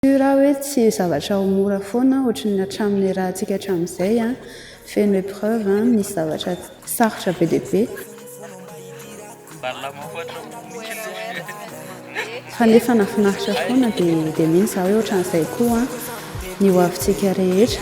Io ra hoe tsy zavatra ho mora foana ohatry ny hatramin'ny niarahantsika hatramin'izay an! Feno épreuve an! Misy zavatra sarotra be dia be. Fa nefa nafinaritra foana dia mino za hoe ohatran'izay koa an! Ny hoavintsika rehetra.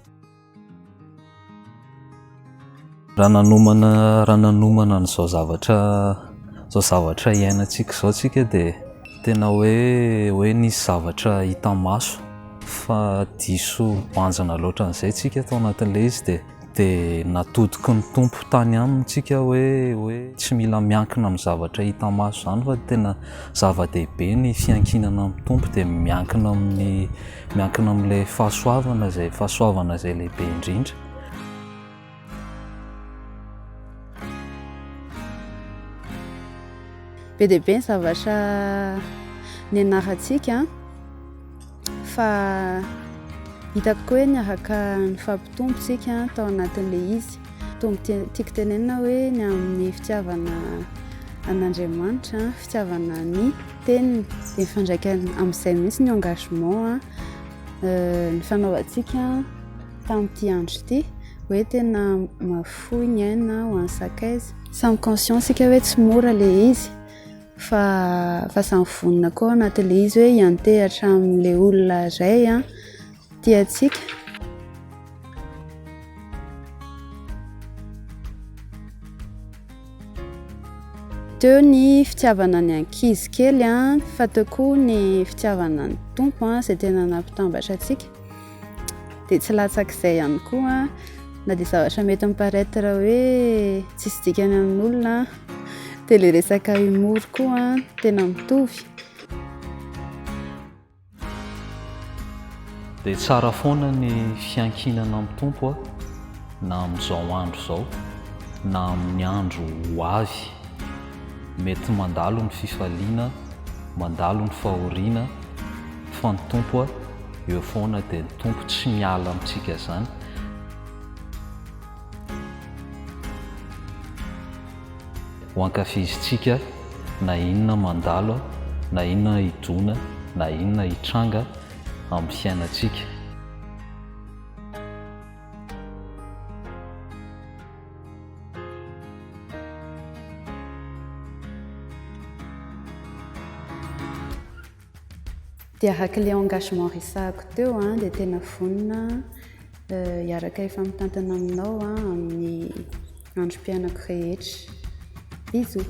Raha nanomana raha nanomana an'izao zavatra izao zavatra iainantsika izao isika dia tena hoe hoe nisy zavatra hita maso fa diso banjina loatra an'izay isika tao anatin'ilay izy dia dia natodiky ny Tompo tany aminy isika hoe hoe tsy mila miankina amin'ny zavatra hita maso izany fa tena zava-dehibe ny fiankinana amin'ny Tompo dia miankina amin'ny Miankina amin'ilay fahasoavana izay fahasoavana izay lehibe indrindra. Be dia be ny zavatra nianarantsika fa hitako koa hoe niaraka nifampitombo tsika tao anatin'ilay izy. Tombo tiako tenenina hoe ny amin'ny fitiavana an'Andriamanitra, fitiavana ny teniny dia mifandraika amin'izay mihitsy ny engagement nifanaovantsika tamin'ity andro ity hoe tena mahafoy ny aina ho an'ny sakaiza samy conscient sika hoe tsy mora le izy fa fa samy vonona koa anatin'le izy hoe hiantehatra amin'le olona iray an Tiantsika. Teo ny fitiavana ny ankizy kely an, fa teo koa ny fitiavana ny Tompo an, izay tena nampitambatra antsika. Dia tsy latsak'izay ihany koa na dia zavatra mety mi-paraitre hoe tsisy dikany amin'olona dia ilay resaka humour koa tena mitovy. Dia tsara foana ny fiankinana amin'ny Tompo na amin'izao andro izao na amin'ny andro ho avy. Mety mandalo ny fifaliana, mandalo ny fahoriana fa ny Tompo eo foana dia ny Tompo tsy miala amintsika izany. Ho ankafizintsika na inona mandalo, na inona hidona, na inona hitranga amin'ny fiainantsika. Dia haka ilay engagement resahako teo an, dia tena vonona hiaraka efa mitantana aminao an amin'ny androm-piainako rehetra. Bisous.